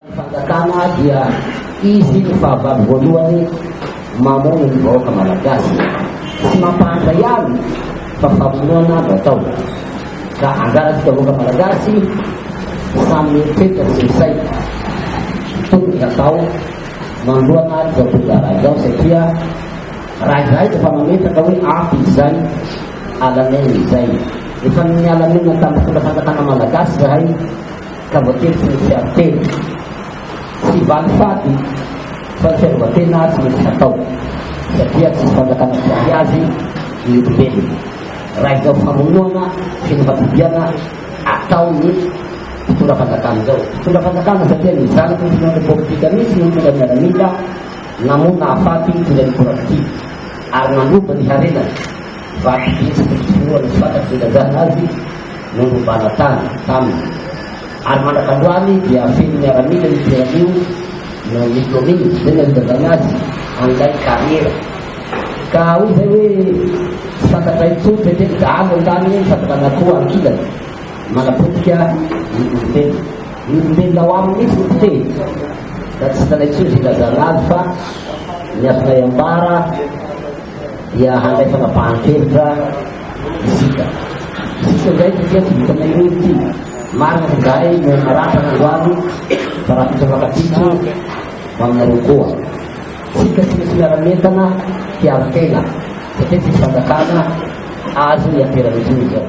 Ny fanjakana dia izy ny fahavalo voalohany mamono ny vahoaka malagasy. Tsy mampahantra ihany fa famonoana no atao. Ka anjarantsika vahoaka malagasy samy mieritreritra sy misaina ny tokony hatao manoloana izao toe-draharaha izao satria raha izahay efa mametraka hoe ampy izay Alamena izay. Efa nialamena tamin'ny fomba fanjakana malagasy izahay ka voatery tsy nisy ady tena. Tsy valy fady fa ny fiarovan-tena tsy maintsy natao satria tsy fanjakana jiaby azy ny olombelona. Raha izao famonoana sy ny fabibiana atao ny mpitondra fanjakana izao. Mpitondra fanjakana satria ny zanaky ny mpitondra politika mihitsy no mitondra miaramila. Namono nahafaty ny mpitondra ny Corapti ary nandova ny harenany, vaky vitsy ny fiforonan'ny mpaka sy ny razana azy nandovana tany taminy, ary mandraka androany dia feno miaramila io toerana io noho ny kaominina izay nandovana azy an'ilay kariera. Ka hoy izay hoe, Tsy fantatra intsony ve teny dahalo an-tany ny fampitran'akoho ankilany? Manapotika ny olombelona. Ny olombelona ao aminy mihitsy no potehy. Raha tsy hitanay intsony ry Razandrano fa ny azonay ambara dia handray fanapahan-kevitra isika. Isika indray satria tsy vitanay hoe ity marina sy garay no maratra androany fa raha fitsoakatsika maminareo koa. Tsika tsy misy miara-mientana hiaro tena satria tsisy fanjakana azo iamperan'intsony izao.